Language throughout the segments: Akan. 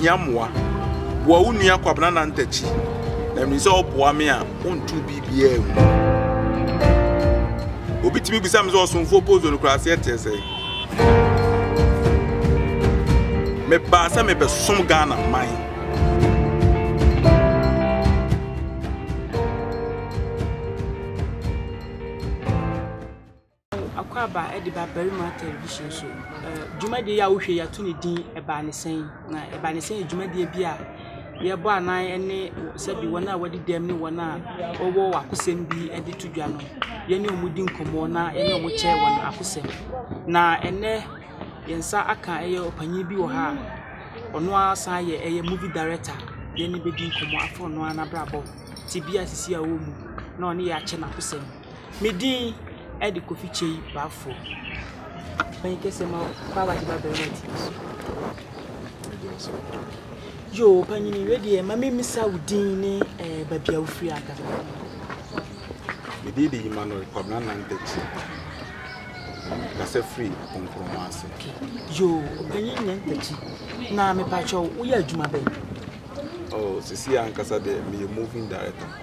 hia mmoa boa wo nua kwabena nantakyi na mmiri sɛ ɔboa me a ɔntu biribiaa mu obi tumi bisa me sɛ ɔsomfoɔ pozo no kora aseɛ teɛ sɛ Mebaa sɛ mebɛsom Ghana man. Akwaaba de Babarima Television so dwumadie yi a wohwɛ yi ato ne din Ɛbaa Ne Sɛn? Na Ɛbaa Ne Sɛn yɛ dwumadie bi a Yɛbɔ anan ne sɛbi wɔn a wɔadi dɛm ne wɔn a wɔwɔ akosɛm bi de to dwa no, yɛne wɔn di nkɔmmɔ na yɛne wɔn kyɛ wɔn akosɛm. Na ɛnnɛ yɛn nsa aka ɛyɛ ɔpanin bi wɔ ha a, ɔno ara san yɛ ɛyɛ movie director. Yɛne no bɛdi nkɔmmɔ afa ɔno ara n'abrabɔ, tebea a seesei a ɔwɔ mu na ɔne yɛn akyɛ n'akosɛm. Me din de Kofi Kyei Baffour. Mɛn kɛsɛ ma kwaaba de ba bɛrima ti so. Yoo, panyini wei deɛ ma me misa wo din ne eh, baabi a wofiri ankasa. Me din de Emmanuel Kwabena Nantakyi. Kasa firi Nkrumah ase. Yoo, panyin Nantakyi. Na mepatwa wo, woyɛ adwuma bɛn? Oh, sisi ankasa deɛ meyɛ moving director.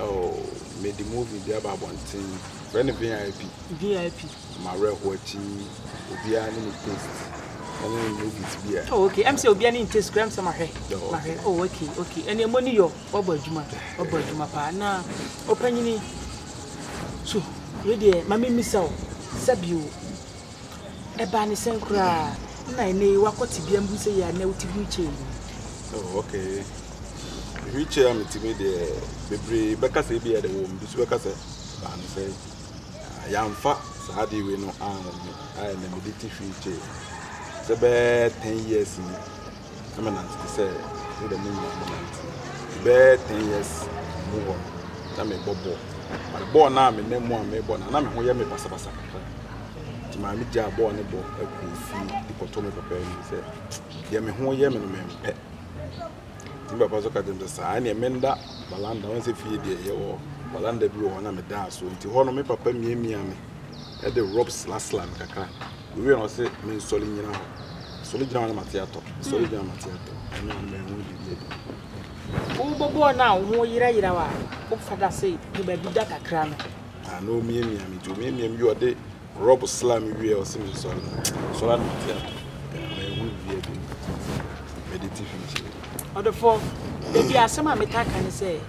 Oh mede movie bi aba abɔnten Frɛ no VIP VIP Ma werɛho akyi Obiara ne ne taste ɛne ne movies bi a Oh okay ɛm sɛ obiara ne ne taste kora ɛm sɛ mahwɛ mahwɛ Oh okay okay ɛne ɛmɔ ni yɔ Wabɔ adwuma wabɔ adwuma paa Na ɔpanyini So wei deɛ ma me mmisa o Sɛbio Ɛbaa ne sɛn koraa na ɛnnɛ yi woakɔ tebea mbu sɛ yɛ a na wote wheelchair yi mu? Oh, okay. Wheelchair a metumi deɛ bebree bɛka sɛ ebi a ɛde wɔn bi so bɛka sɛ ɛbaa ne sɛn. Ah, yɛamfa saa adeɛ wei no anwo me a ɛnna mede te wheelchair sɛ bɛyɛ ten years ni. na manante te sɛ ne dɛm nyinaa mo nante bɛɛ ten years mu hɔ no na mebɔ bɔɔl but bɔɔl no a me nan mu a mebɔ no na me ho yɛ me basabasa kakra nti maa me gyaa bɔɔl no bɔ akɔ fie de kɔtɔ me papa anim sɛ deɛ me ho yɛ me no mempɛ nti papa so ka kyerɛ me sɛ saa neɛ menda balanda wɔn sɛ fie deɛ yɛwɔ balanda bi wɔ hɔ na medaa so nti hɔ no me papa miamia me de rub sla sla no kakra owie na ɔse me nsɔre nyina hɔ sɔre gyina hɔ na mate atɔ sɔre gyina mate atɔ ɛno ano bɛn ho biribi adi wobɔbɔɔ no a wo ho yera yera wa wofa da se de baabi da kakra no ah, na omiamia me nti omiamia me wie ɔde rub sla me wie ɔse me nsɔre no sɔre na mate atɔ ɛno ho biribi adi mede ti fi nkyiri ɔdefo ebi asɛm a metaka ne sɛ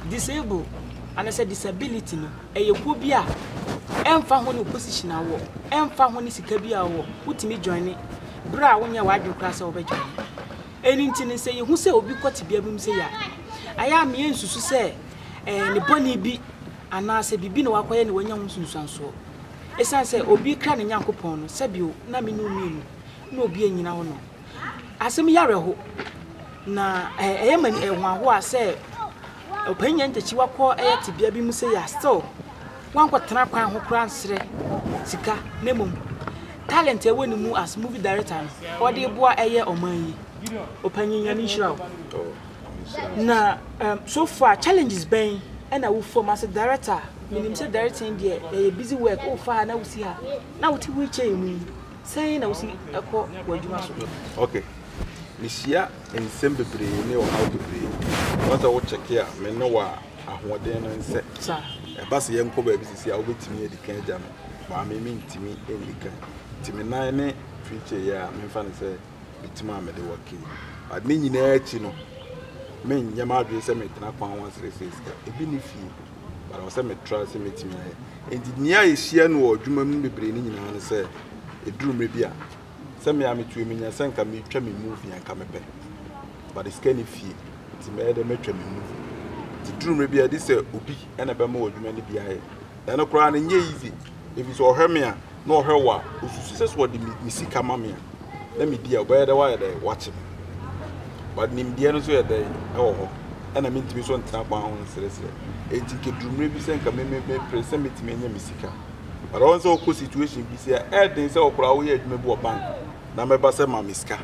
disable anasɛ disability no Ɛyɛ kuo bi a ɛmfa ho ne position a wowɔ, ɛmfa ho ne sika bi a wowɔ, wotumi joine berɛ a wonyɛɛ w'adwene koraa sɛ wobɛ joine. Ɛno nti no sɛ yɛhu sɛ obi kɔ tebea bi mu sei a, ɛyɛ a meyɛ nsusu sɛ ɛyɛ ne bɔne bi anaasɛ biribi na wakɔyɛ na wanya ho nsunsuansoɔ. Ɛsiane sɛ obi kra ne Nyankopɔn no, sɛbio na me ne wo mmienu na obi anyina hɔ no, Asɛm yi awerɛho, na ɛyɛ ma ɛho ahoa sɛ Ɔpanyin Ngyekye wakɔ ɛyɛ tebea bi mu sei a still wankɔtena kwan ho koraa nsrɛ sika na mmom talent a ɛwɔ ne mu as movie director no ɔde reboa ɛyɛ ɔman yi. Ɔpanyin Nyame nhyira wo. Na so far challenges bɛn ɛna wo fam as a director a menim sɛ directing deɛ ɛyɛ busy work wofa ha na wosi ha na wote wheel chair mu yi Sɛn na wusi kɔ w'adwuma so? Ok. Mihyia nsɛm bebree ne ɔhaw bebree. Ɔba sɛ wokyɛke a, me ne wo a, ahoɔden no nsɛ. Ɛba sɛ yɛnkɔ baabi sisi a, wubetumi adi kan agya me, but me mintumi nni kan. Nti me nan ne preaching yɛ a, memfa no sɛ mitim a mede wɔ kee. But ne nyinaa akyi no, menyɛ m'adwene sɛ metena kwan ho asrɛsrɛ sika. Ebi nni fie. but ɛwɔ sɛ metra sɛ mɛtumi ayɛ. Enti nea yɛhyia no wɔ adwuma mu no bebree no nyinaa ne sɛ, ɛduru mmerɛ bi a, sɛ me a metua me nya sɛ nka metwa me movie a nka mepɛ, but sika ni fie, nti mɛyɛ dɛ mɛtwa me movie. Nti ɛduru mmerɛ bi a ɛde sɛ obi na ɛbɛma wɔ adwuma no bi ayɛ. Na ɛno koraa no ɛnyɛ easy, ɛfiri sɛ ɔhwɛ me a, na ɔhwɛ wo a, osusu sɛ sɛ ɔde me me sika ma me a, na medi a, ɔbɛyɛ dɛn wayɛ dɛn wakye me. But nimdeɛ no nso yɛ dɛn wɔ hɔ, ɛna mintumi nso ntena kwan ho nsrɛsrɛ. Enti nka eduru mmere bi sɛ nka me me mepere sɛ metumi anya me sika. But ɔn sɛ wokɔ situation bi sɛ ɛyɛ den sɛ ɔkora woyɛ adwuma bi wɔ bank na mɛba sɛ ma me sika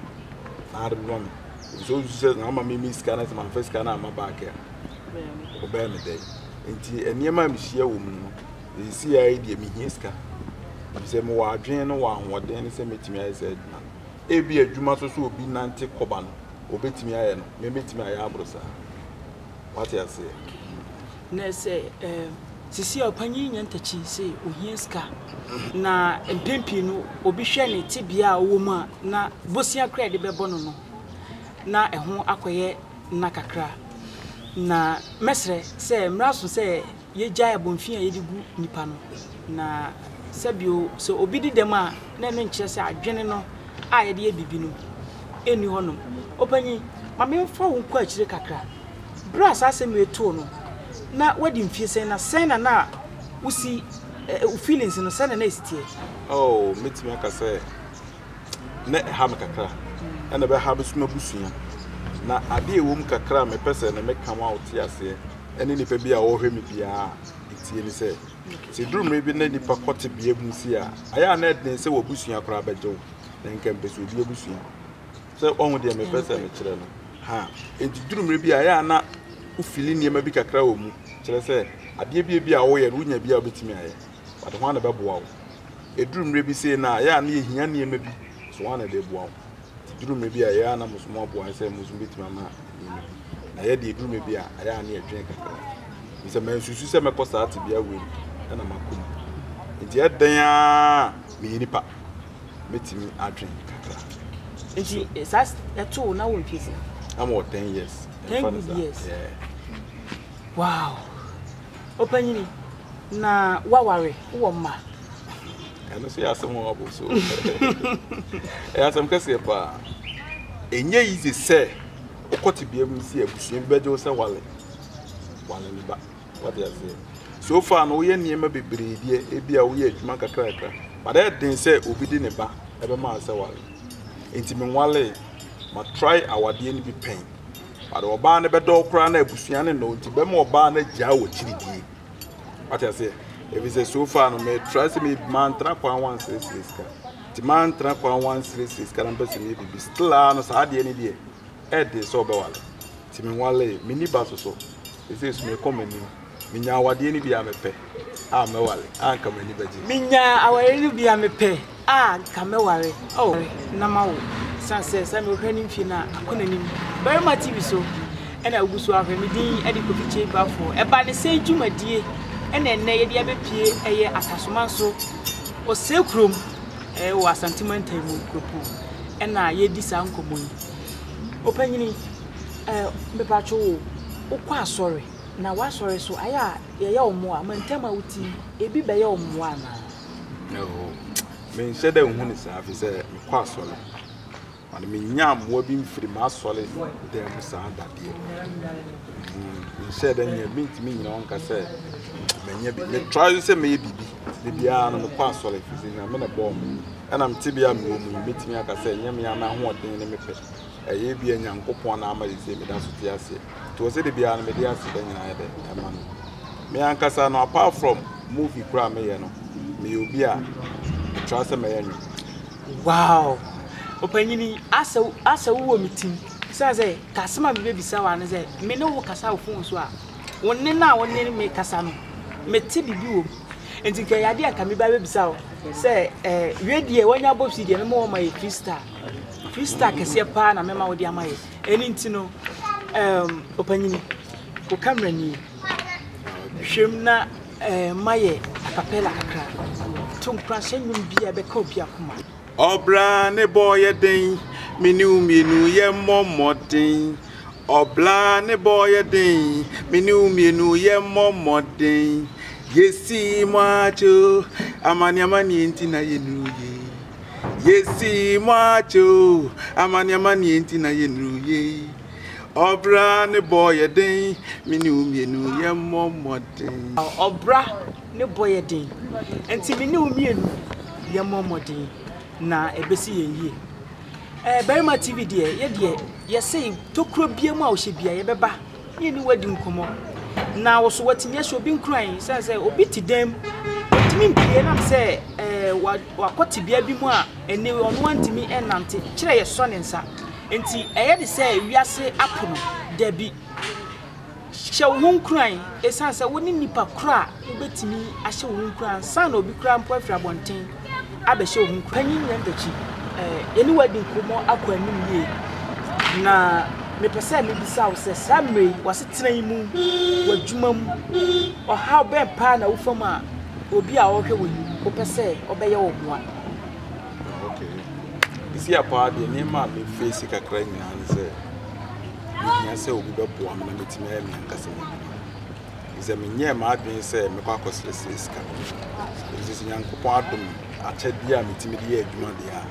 na ade bɛma me. Efisɛ osusu sɛ na ama me me sika na sɛ mamfa sika no amma back a, ɔbɛyɛ me dɛn. Enti nneɛma a mehyia wɔ mu no, Seesei ara yi deɛ, mehia sika, efisɛ mewɔ adwene no wɔ ahoɔden no sɛ mɛtumi ayɛ saa adwuma no. Ebia adwuma so sɛ obi nante kɔba no, ɔbɛtumi ayɛ no, me mɛtumi ayɛ aboro saa. Woate aseɛ? Na sɛ, ɛɛm, seesei ara ɔpanyin yi nya ntakyi sɛ ɔhia sika, na mpɛn pii no, obi hwɛ ne tebea a ɔwɔ mu a, na bosea koraa a yɛde bɛbɔ no no, na ɛho akɔyɛ nã kakra. Na mɛsrɛ sɛ, mmrɛ aso sɛ yegyae abomfi a yɛde gu nnipa no. Na sɛbio, sɛ obi di dɛm a, na ɛno nkyerɛ sɛ adwene no a yɛde yɛ biribi no nni hɔnom. Ɔpanyin, ma memfa wo nkɔ akyire kakra. Bere a saa asɛm wei too no, na wadi mfie sɛn, na sɛn na na wusi, eh, wo feelings no, sɛn na na esi teɛ? Oh, metumi aka sɛ na ɛha me kakra, ɛna ɛbɛha me nso m'abusua. Na ade a ɛwɔ mu kakra a mepɛ sɛ ne meka ma wote aseɛ ne nipa bi a ɔrehwɛ me biara tie ne sɛ, sɛ duru mmere bi na nipa kɔ tebea bi mu si a, ayɛ a na ɛden sɛ w'abusua koraa bɛgye wo, na nka mpɛ sɛ obi abusua. Sɛ ɔho deɛ mepɛ sɛ mekyerɛ no. Ha, enti duru mmere bi a ayɛ a na wofili nneɛma bi kakra wɔ mu, kyerɛ sɛ adeɛ bi a bi a woyɛ no, wonya bi a wobɛtumi ayɛ. but hwan na ɛbɛboa wo? Ɛduru mmerɛ bi sei no a, ɛyɛ a na yɛhia nneɛma bi, so hwan na ɛde boa wo? Nti ɛduru mmerɛ bi a, ɛyɛ a na mo nso moaboa sɛ mo nso mobɛtumi ama nneɛma bi. Na yɛ deɛ ɛduru mmerɛ bi a, ɛyɛ a na yɛdwene kakra. Ɛfiri sɛ mansusu sɛ mɛkɔ saa tebea wei mu na makɔ mu. Nti ɛdɛn a meyɛ nipa mɛtumi adwene kakra. Nti saa ɛto wo na wo mfie sɛ? Na mewɔ ten years. Ten good years. Yeah. Wow. Ɔpanyini, na woaware, wowɔ mma. Ɛno nso yɛ asɛm wɔ abo so. Ɛyɛ asɛm kɛseɛ paa. Ɛnyɛ yize sɛ wokɔ tebea bi mu sɛ abusua bi bɛgye wo sɛ wale. Wale ne ba. Wate aseɛ. So far no woyɛ nneɛma bebree deɛ ebi a woyɛ adwuma kakrakra. But ɛyɛ den sɛ obi de ne ba ɛbɛma sɛ wale. Nti menwalee. Ma try awadeɛ no bi pɛn. But ɔbaa no bɛdɔ wo koraa na abusua no nnɔ wo nti bɛma ɔbaa no agyaa wɔ akyiri die. Wate aseɛ? Ɛfiri sɛ so far no metra sɛ me mantra kwan wansrɛsrɛ sika nti mantra kwan wansrɛsrɛ sika na mpɛ sɛ meyɛ biribi still ara no saa adeɛ no deɛ ɛde sɛ ɔbɛwale nti menwalee menni ba so so ɛsɛ so mekɔ m'anim Menya awadeɛ no bi a mepɛ a mɛware a nka m'ani bɛgye. Menya awareɛ no bi a mepɛ a nka mɛware oh na mawo. Ɛsiane sɛ sɛ mehwɛ ne mfie no a akɔ n'anim. Barima TV so ɛna wogu so ahwɛ. Me din ɛde Kofi Kyeibafoɔ. Ɛba ne sɛn dwumadie ɛna ɛnnɛ yɛde abɛpue ɛyɛ Atasoman so Osei kurom ɛɛ wɔ Asante mantam mu Nkuropon ɛna yɛredi saa nkɔmmɔ yi. Ɔpanyini ɛɛ mepatwo wo wokɔ asɔre? Na w'asɔre so ayɛ a yɛyɛ wo mmoa? Ma ntam a wote yi, ebi bɛyɛ wo mmoa anaa? Oo, menhyɛ dɛ nhu no saa, efisɛ mekɔ asɔre. Ɔde menyaa mmoa bi mfiri m'asɔre dan mu saa da deɛ. Mm, menhyɛɛ dɛ nyɛ, mentumi nyina hɔ nka sɛ manya bi. Metra so sɛ mɛyɛ biribi. Da biara no mekɔ asɔre, efisɛ Nyame na ɛbɔɔ me. Ɛnam tebea a mewɔ mu yi, mɛtumi aka sɛ ɛnyɛ me ara m'ahoɔden ne me pɛ. ɛyɛ ebia Nyankopɔn na ama sesei meda so te aseɛ. Nti ɔsɛ da biara no mede ase da nyinaa yɛ dɛ ɛma no. Me ankasa no apart from movie koraa meyɛ no, meyɛ obi a metra sɛ mɛyɛ nwom. Wow! Ɔpanyini, asɛ asɛ wo wɔ me tim. Sɛ sɛ, kasem a mebɛbisa wo ano sɛ, me ne wo kasa wo fon so a, wo nne no a wo ne me kasa no, mete biribi wɔ mu. Nti nka ɛyɛ adeɛ a nka meba bɛbisa wo sɛ, eh, wɛ deɛ, wanya bɔ pii deɛ, me ma wɔma yɛ three star. Free star kɛseɛ paa na mɛma wode ama yɛ. Ɛni nti no, um, ɔpanyini, wo camera nie. Hwɛm na eh, ma yɛ acapella kakra. To nkora hyɛ nnwom bi a ɛbɛka obi akoma. Ɔbra ne bɔ yɛ den, me ne wo mmienu yɛ mmɔ mmɔden. Ɔbra ne bɔ yɛ den, me ne wo mmienu yɛ mmɔ mmɔden. Yɛsi mo akyi o, amane amane nti na yɛnuru yie. Yɛsi mo akyɛ o, amaneɛ amaneɛ nti na yɛnuru yei. Ɔbra ne bɔ yɛ den, me ne wo mmienu yɛ mmɔ mmɔden. Ɔbra ne bɔ yɛ den, nti me ne wo mmienu yɛ mmɔ mmɔden na ɛbɛsi yɛn yie. Ɛɛ Barima TV deɛ, yɛ deɛ yɛsei tokuro biara mu a ɔhyɛ biara yɛbɛba. ne ne wadi nkɔmmɔ, na wo nso woatumi ahyɛ obi nkuran. Esiane sɛ obi te dan mu, ɔntumi mpue nam sɛ ɛɛ wakɔ tebea bi mu a ɛne ɔno antumi nnante, kyerɛ yɛsɔ ne nsa. Enti ɛyɛ de sɛ wiase apo no? Dabi. Hyɛ wo ho nkuran, esiane sɛ wo ne nnipa koro a wobɛtumi ahyɛ wo ho nkuran ansa na obi koraa mpo afiri abɔnten. abɛhyɛ wo ho nkuran. Panyin Nyan Takyi, yɛne wo adi nkɔmmɔ akɔ anim yie, na mepɛ sɛ mebisa wo sɛ, saa mmerɛ yi, w'asetena yi mu, w'adwuma mu, ɔhaw bɛn paa na wofa mu a obi a ɔrehwɛ wo yi, wopɛ sɛ ɔbɛyɛ wo mmoa? Ah, ok. Ɛsi a paa deɛ, nneɛma a mefeesi kakra nyinaa ne sɛ, mehia sɛ obi bɛboa me na matumi ayɛ me ankasa m'adwuma. Efisɛ menyɛɛ m'adwene sɛ mɛkɔ akɔsrɛsrɛ sika. Nanso sɛ Onyankopɔn adom me akyɛdeɛ a metumi de yɛ adwuma deɛ a,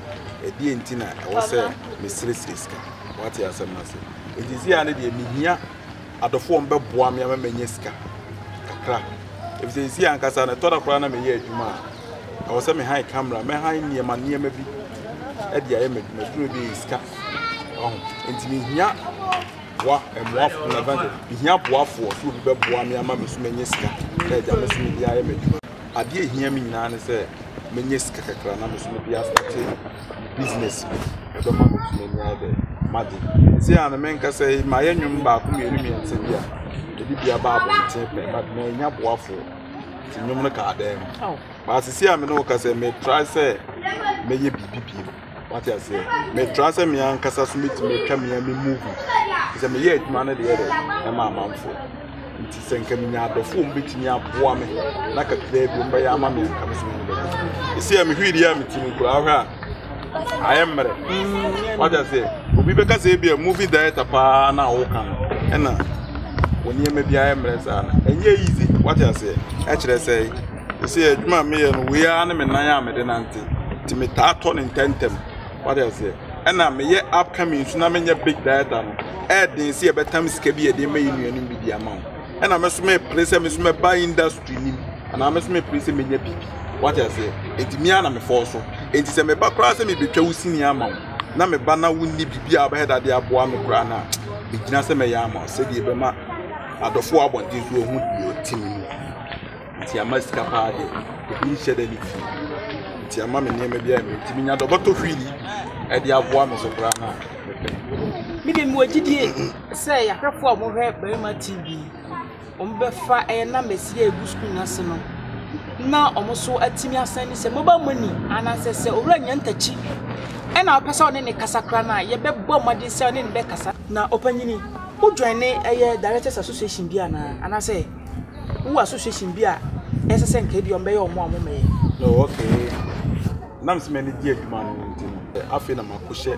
ɛdeɛn nti na ɛwɔ sɛ mesrɛsrɛ sika? Woate asɛm no ase? Enti seesei ara no deɛ, mehia adɔfoɔ a wɔbɛboa me ama manya sika kakra. Efisɛ seesei ankasa no, ɛtɔ da koraa na meyɛ adwuma a, ɛwɔ sɛ mehan kamera, mɛhan nneɛma nneɛma bi de ayɛ m'adwuma. Adwuma bi yɛ sika. Wahu? Enti mehia. boa mmoafoɔ na ɛbɛn sɛ mehia boafoɔ sɛ obi bɛboa me ama me so mɛnya sika na agya me so mede ayɛ m'adwuma adeɛ ɛhia me nyinaa ne sɛ mɛnya sika kakra na me so mede asate business bi ɛbɛma me so m'ani ayɛ dɛ made ɛsɛ a na menka sɛ mayɛ nnwom baako mmienu mmiɛnsa bi a ɛde bi aba abɔnten pɛ but manya boafoɔ nti nnwom no kaa dɛm baasese a me ne wo ka sɛ metrae sɛ mɛyɛ biribi bio Wate aseɛ? Metra sɛ me ankasa so mɛtumi atwa me me movie. Sɛ meyɛ adwuma no deɛ dɛ ɛma amanfoɔ. Nti sɛ nka menya adɔfoɔ a wɔbɛtumi aboa me na kakraa bi wɔbɛyɛ ama me anka me so me bɛyɛ. Ɛsi a mehwɛ deɛ a mete mu koraa hwɛ a ayɛ mmerɛ. Mm, Wate aseɛ? Obi bɛka sɛ ebi a movie director paa na woka no ɛna wɔ nneɛma bi ayɛ mmerɛ saa no. Ɛnyɛ easy. Wate aseɛ? Ɛkyerɛ sɛ Sɛ adwuma a meyɛ no wei ara ne me nan a mede nante nti metaa tɔ ne ntɛntɛm wade aseɛ ɛna meyɛ upcoming nso na menyɛ big dieter no ɛɛden sɛ yɛbɛtam sika bi yɛde ma yɛ nuanom bi de ama wo ɛna me so mepere sɛ me so mɛba industry nim anaa me so mepere sɛ menya biribi wade aseɛ nti mea na mefɔɔ so nti sɛ meba koraa sɛ mebɛtwa wo sini ama wo na meba na wonni biribi a wobɛyɛ dade aboa me koraa no a megyina sɛ mɛyɛ ama wo sɛdeɛ ɛbɛma adɔfoɔ abɔnten so ɔhu deɛ ɔte mu Nti ama sika paa de obi nhyɛ da ne fie nti ama me nneɛma bi a nti menya dɛ ɔbɛtɔ fiili ɛde aboa me so koraa na me de mewɔ gyidie sɛ yɛahwɛfo a wɔhwɛ barima tv wɔbɛfa ɛyɛ na mɛsi a ɛgu sukuu no ase no na wɔn so atumi asan ne sɛ mobile money anaasɛ sɛ owura nya ntakyi ɛna wopɛ sɛ ɔne ne kasa kora no a yɛbɛbɔ mmɔden sɛ ɔne ne bɛkasa na ɔpanyini wodwane ɛyɛ directors association bi anaa anaasɛ Wowɔ association bi a ɛsɛ sɛ nka ebia wɔbɛyɛ wɔn a wɔmmɛyɛ? No, okay. Nam sɛ m'ani gye adwuma no ho nti no, afei na makɔhyɛ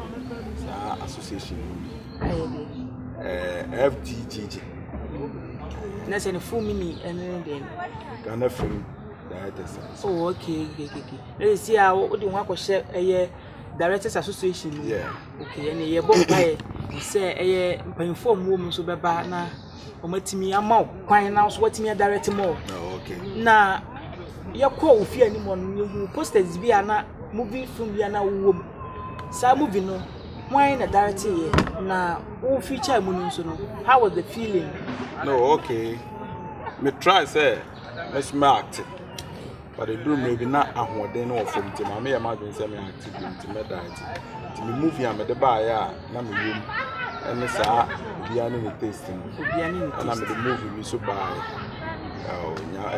saa association no mu. Ayɛ deɛ. Eh, FGGG. Na sɛ ne full meaning ɛne ne deɛ no? Ghana Film Directors Association. Oh, okay, okay, okay. Na yɛ si a wode ho akɔhyɛ ɛyɛ Directors Association mu? Yeah. Okay, ɛne yɛbɔ mpaeɛ sɛ ɛyɛ mpanyinfoɔ a wɔwɔ mu nso bɛba na wɔn atumi ama wo kwan na nso watumi adirect mu o na yɛkɔ ofie anim hɔ no yɛhu posters bi a na movie film bi a na wowɔ mu saa movie no hwan na direct yɛ na wo feature mu no nso no how was the feeling no okay me try sɛ mɛsoma acte But ɛduru mmerɛ bi na ahoɔden no wɔ fam nti maa meyɛ m'adwene sɛ me active bi nti mɛda akyi nti me movie a mede baeɛ a na me yam ɛne saa obiara ne ne taste no ɛna mede movie bi so baeɛ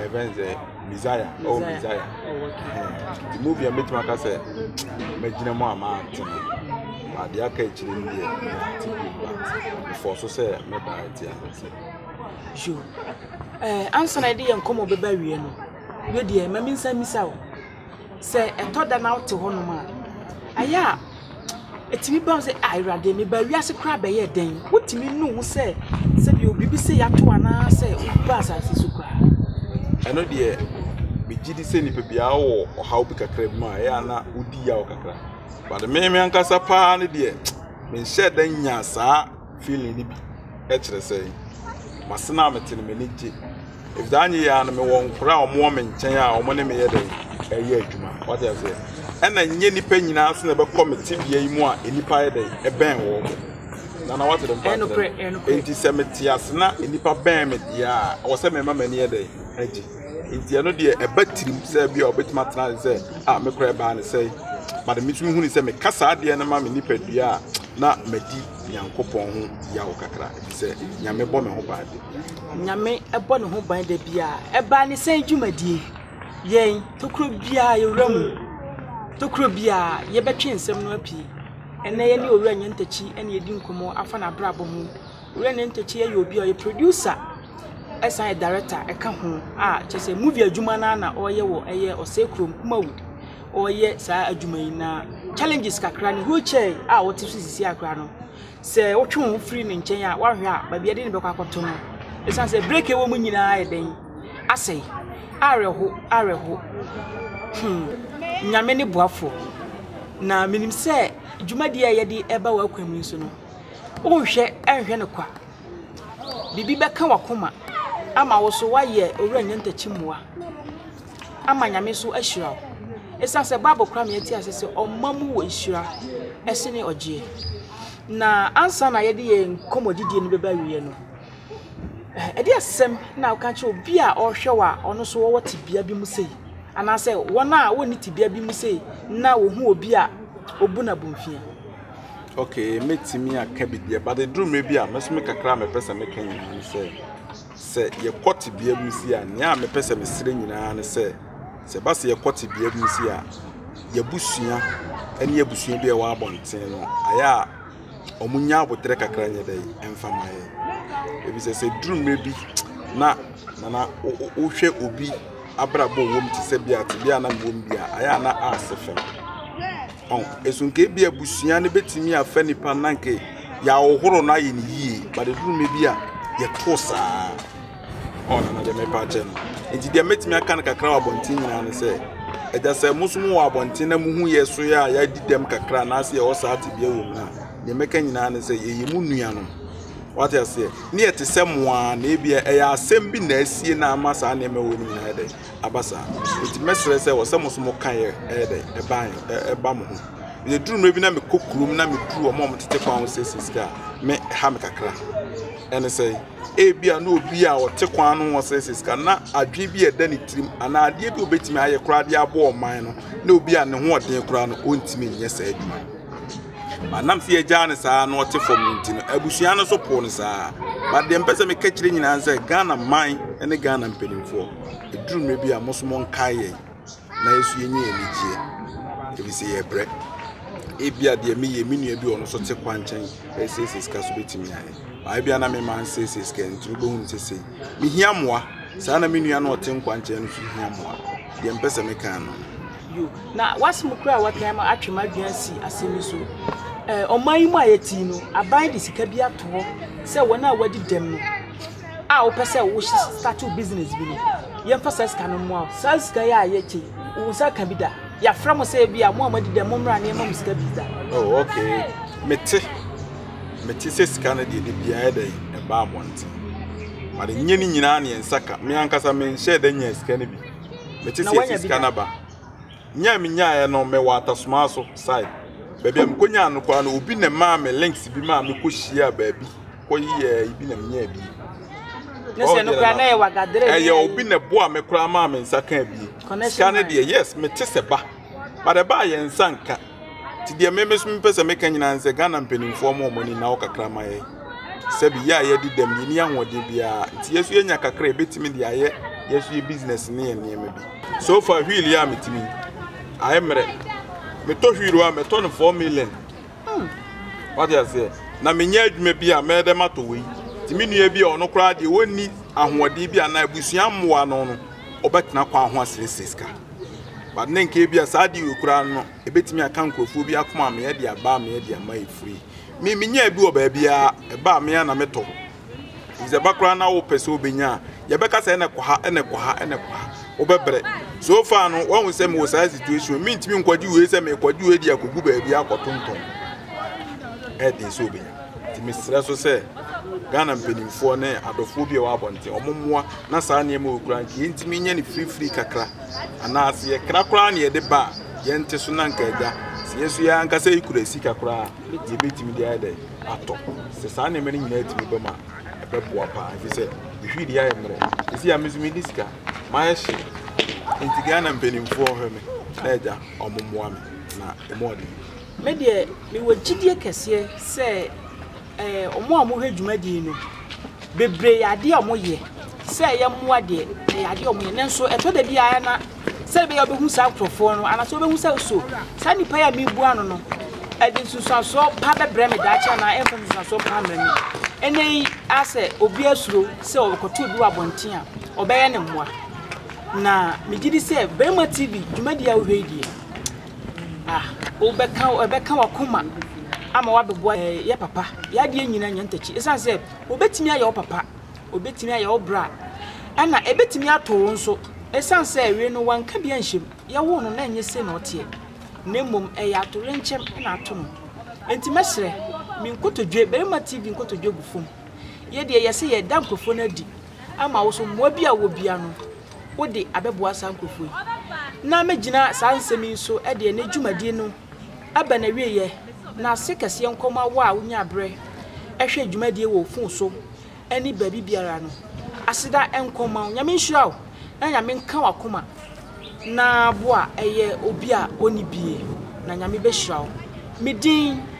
ɛbɛn sɛ mizaya ɔwɔ mizaya nti movie a mɛtumi aka sɛ mɛgyina mu a maate no ade aka akyire no deɛ mete bi ba mefɔɔ so sɛ mɛda akyi anasɛ ansana ɛde yɛ nkɔmmɔ bɛba wie no Me deɛ, ma mensan mmisa wo, sɛ ɛtɔ da na wote hɔnom a, ɛyɛ a ɛtumi ba wo sɛ, ah, Awurade, mebaa wiase koraa bɛyɛɛ dɛn? Wotumi nu wo sɛ sɛdeɛ biribi sei ato wo anaasɛ wobu baa asase so koraa? Ɛno deɛ, megye di sɛ nipa biara wɔ ɔhaw bi kakra bi mu a ɛyɛ a na wodi yaw kakra. But me me ankasa paa no deɛ, menhyɛɛ da nyaa saa feeling no bi kyerɛ sɛ mase no a mete no m'ani gye ɛfiri sɛ anyɛ yɛ a no mewɔ nkora a wɔwɔ me nkyɛn a wɔn ne meyɛ dɛn ɛyɛ adwuma wate aseɛ ɛna nyɛ nipa nyinaa se na ɛbɛkɔ me tebea yi mu a nnipa yɛ dɛn ɛbɛn wɔ hɔ nana wate dɛm paa nti sɛ mete ase na nnipa bɛn me deɛ a ɛwɔ sɛ mɛma m'ani yɛ dɛn agye nti ɛno deɛ ɛba tirim sɛ bi a ɔbɛtumi atena sɛ a mekora ɛbaa ne sɛ but metumi huni sɛ meka saa adeɛ no ma me nipadua a na madi Nyankopɔn ho yaw kakra, efisɛ Nyame bɔ me ho ban de. Nyame bɔ ne ho ban da biara. Ɛbaa ne sɛn dwumadie? Yɛn, tokuro biara yɛwura mu. Tokuro biara yɛbɛtwe nsɛm no apie. Ɛnɛ yɛne Owura Nyantakyi ɛne yɛdi nkɔmmɔ afa n'abrabɔ ho. Owura Nyantakyi ɛyɛ obi a ɔyɛ producer ɛsan yɛ director ɛka ho a kyerɛ sɛ movie adwuma no ara na ɔreyɛ wɔ ɛyɛ Ɔsɛe Kurom, Kumawu. ɔyɛ saa adwuma yi na challenges kakra ne wheelchair a ɔte so sisi akora no sɛ wotwe wo ho firi ne nkyɛn a woahwɛ a baabi ɛde ne bɛkɔ akɔto no ɛsiane sɛ break ɛwɔ mu nyinaa yɛ dɛn asɛe awerɛho awerɛho hmm nyame ne boafoɔ na menim sɛ dwumadie a yɛde ɛba w'akwan mu nso no wonhwɛ ɛnhwɛ no kwa biribi bɛka wakoma ama wo so woayɛ owura nyɛ ntakyi mmoa ama Nyame so ahyira wo. Esiane sɛ Bible kora me ati ase sɛ ɔma mu wɔ nhyira ɛsene ɔgyeɛ. Na ansa na yɛde yɛn nkɔmmɔdidie no bɛba awieɛ no, eh, ɛde asɛm na woka kyerɛ obi a ɔrehwɛ wo a ɔno nso wɔwɔ tebea bi mu sei, anaasɛ wɔn a wɔnni tebea bi mu sei na wɔhu obi a ɔbu no abomfia. Okay, mɛtumi aka biribiara, but ɛduru mmerɛ bi a mɛsome kakra a mɛpɛ sɛ mɛka nyinaa ne sɛ, Sɛ yɛkɔ tebea bi mu sei a, nea mepɛ sɛ mesrɛ nyinaa ne sɛ, sɛ ɛba sɛ yɛkɔ tebea bi mu sei a, yɛabusua ne abusua bi a ɛwɔ abɔnten no, ayɛ a wɔn nya aboterɛ kakra nyɛ dɛ ɛmfa ma yɛ. Ebi sɛ sɛ duru mmerɛ bi na nana wohwɛ obi abrabɔ wɔm te sɛ bi a tebea na wɔm bi a, ayɛ a na asɛ fam. So nka ebia abusua no betumi afa nipa no na nka yɛahohoro no ayɛ no yie but ɛduru mɛ bi a yɛto saa ɔna na deɛ mɛpa akyɛ no nti deɛ mɛtumi aka no kakra wɔ abɔnten nyinaa no sɛ ɛgya sɛ mo so mo wɔ abɔnten na mo hu yɛ so yɛ a yɛadi dɛm kakra anaasɛ yɛwɔ saa tebea wɔ mu a deɛ mɛka nyinaa no sɛ yɛyɛ mu nua no wate aseɛ ne yɛte sɛ mo a na ebia ɛyɛ asɛm bi na asie na ama saa nneɛma wɔ no nyinaa dɛ aba saa. Nti mɛsrɛ sɛ wɔ sɛ mo nso mo ka yɛ ɛyɛ dɛ ɛba yɛ ɛba mo ho. Yɛ duru mmerɛ bi na mekɔ kurom na meduru wɔn a wɔn tete kwan ho siesie sika a me ha me kakra. Ɛne sɛ ebi a na obi a ɔte kwan no ho siesie sika na adwene bi a ɛda ne tirim anaa adeɛ bi a obetumi ayɛ koraa de aboa ɔman no na obi a ne ho ɔden koraa no ɔntumi nyɛ saa adwuma no. But na mese yɛagyaa no saa na ɔte fam no nti no, abusua no nso poo no saa. But deɛ mpɛ sɛ meka kyerɛ nyinaa sɛ Ghana man ne Ghana mpanimfoɔ, ɛduru mmerɛ bi a mo nso monkae yɛn na yɛso yɛnya anigyeɛ, ɛfiri sɛ yɛbrɛ. Ebia deɛ meyɛ me nua bi ɔno nso te kwa nkyɛn ɛresiesie sika so bɛtumi ayɛ. Baa ebia na mema nsiesie sika nti wobɛhu no sesei. Mehia mmoa saa na me nua no ɔte nkwa nkyɛn no nso hia mmoa. Deɛ mpɛ sɛ meka no. bio. Na w'asɛm koraa a w'aka yi ama atwe m'adwene asi asɛm yi so. Ɛɛ, ɔman yi mu a yɛte yi no, aban de sika bi ato hɔ sɛ wɔn a wɔadi dɛm no a wopɛ sɛ wo start wo business bi no, yɛmfa saa sika no mmoa wo. Saa sika yi a yɛkyɛ yi, wo nsa ka bi da? Yɛafrɛ mo sɛ bi a mo a moadi dɛm mommra na yɛma mo sika bi da? Oh, okay. Mete. Mete sɛ sika no deɛ de biara ɛdɛ yi, ɛbaa abɔnten. But nyɛ ne nyinaa ne yɛn nsa ka. Me ankasa menhyɛɛ da nyaa sika no bi. mete sɛ yɛfi sika no aba nya me nyaeɛ no mewɔ atasomaa so side baabi a mekɔnyaa no koraa no obi na maa me links bi maa mekɔhyia baabi kɔyɛ ibi na menyaa bi ɛyɛ obi na boa me koraa maa me nsa kaa bi sika no deɛ yes mete sɛ ba but ɛbaa yɛn nsa nka Nti deɛ me meso mepɛ sɛ meka nyinaa sɛ Ghana mpanimfoɔ mo wɔn ani na kakra ma yɛ sɛbi yɛ a yɛdi dɛm yɛni ahoɔden biara nti yɛso yɛnya kakra yɛbɛtumi de ayɛ yɛso yɛ business ne yɛ nneɛma bi so far wheel yɛ a metumi ayɛ mmerɛ metɔ wheel a mɛtɔ no 4 million hmm. wate aseɛ na menyɛ adwuma bi a mɛyɛ dɛ matɔ wei nti me nua bi a ɔno koraa deɛ wɔnni ahoɔden bi anaa abusua mmoa no no ɔbɛtena kwan ho asrɛsrɛ sika But na nka ebia saa ade wei koraa no, ebetumi aka nkurɔfoɔ bi akoma a meyɛ de aba a meyɛ de ama efiri. Me menyaa bi wɔ baabiara, ɛba a me ara na metɔ. Sɛ ɛba koraa na wopɛ sɛ wobɛnya a, yɛbɛka sɛ ɛna kɔ ha, ɛna kɔ ha, ɛna kɔ ha. Wobɛbrɛ. So far no, wahu sɛ mewɔ saa situation, mentumi nkɔgye wei sɛ mekɔgye wei de akɔgu baabi akɔtontɔn. Ɛden sɛ wobɛnya. Nti mesrɛ nso sɛ Ghana mpanimfoɔ ne adɔfoɔ bi a ɛwɔ abɔnten wɔn mmoa na saa nneɛma wɔ kura nti yɛntumi nyɛ no firifiri kakra anaa sɛ yɛkra koraa na yɛde ba a yɛnte so na nka agya sɛ yɛn nso yɛn ankasa yi kura sika koraa a yɛbɛtumi de ayɛ dɛ atɔ sɛ saa nneɛma no nyinaa tumi bɛma ɛbɛboa paa ɛfiri sɛ ɛhwii deɛ ayɛ mmerɛ ɛsi a me nso medi sika mayɛ hye nti Ghana mpanimfoɔ hwɛ me na agya wɔn mmoa me na ɛmu ɔden Me deɛ mewɔ gyidie kɛseɛ sɛ wɔn a wɔhwɛ dwumadie no bebree yɛ adeɛ a wɔyɛ sɛ ɛyɛ mmoa deɛ ɛyɛ adeɛ a wɔyɛ nanso ɛtɔ da bi ara na sɛ ɛbɛyɛ wobɛhu saa nkurɔfoɔ no anaasɛ wobɛhu sɛ so saa nnipa yi a mebua no no ɛde nsunsuansoɔ pa bɛbrɛ me daakye anaa ɛmfa nsunsuansoɔ pa mmerɛ me ɛnɛ yi asɛ obi asuro sɛ ɔbɛkɔto obi wɔ abɔnten a ɔbɛyɛ ne mmoa na megye di sɛ Barima TV dwumadie a wohwɛ yi deɛ Ah, wobɛka, ɛbɛka wakoma ama wabɛboa yɛ papa. Yɛ adeɛ nyina nya ntakyi. Ɛsiane sɛ obɛtumi ayɛ wo papa, obɛtumi ayɛ wo bra, ɛna ɛbɛtumi ato wo nso. Ɛsiane sɛ wei no wanka bi anhyɛ mu. Yɛwoo no na ɛnyɛ sei na ɔteɛ, na mmom ɛyɛ atoyerɛnkyɛm na ato no. Enti mɛsrɛ, me nkotodwe, Barima TV nkotodwe gu fam. Yɛ deɛ yɛse yɛda nkorɔfoɔ no adi ama wo so, mmoa bi a wowɔ biara no, wo de abɛboa saa nkurɔfoɔ yi, na mɛgyina saa nsɛm yi so de ɛnnɛ dwumadie no aba n'awieɛ, na ase kɛseɛ nkɔ ma wo a wonyaa berɛ hwɛ dwumadie wɔ wo fon so ne baabi biara no. Aseda nkɔ ma wo. Nyame nhyira wo, na Nyame nka w'akoma na boa ɛyɛ obi a ɔnni bie, na Nyame bɛhyira wo. Me din.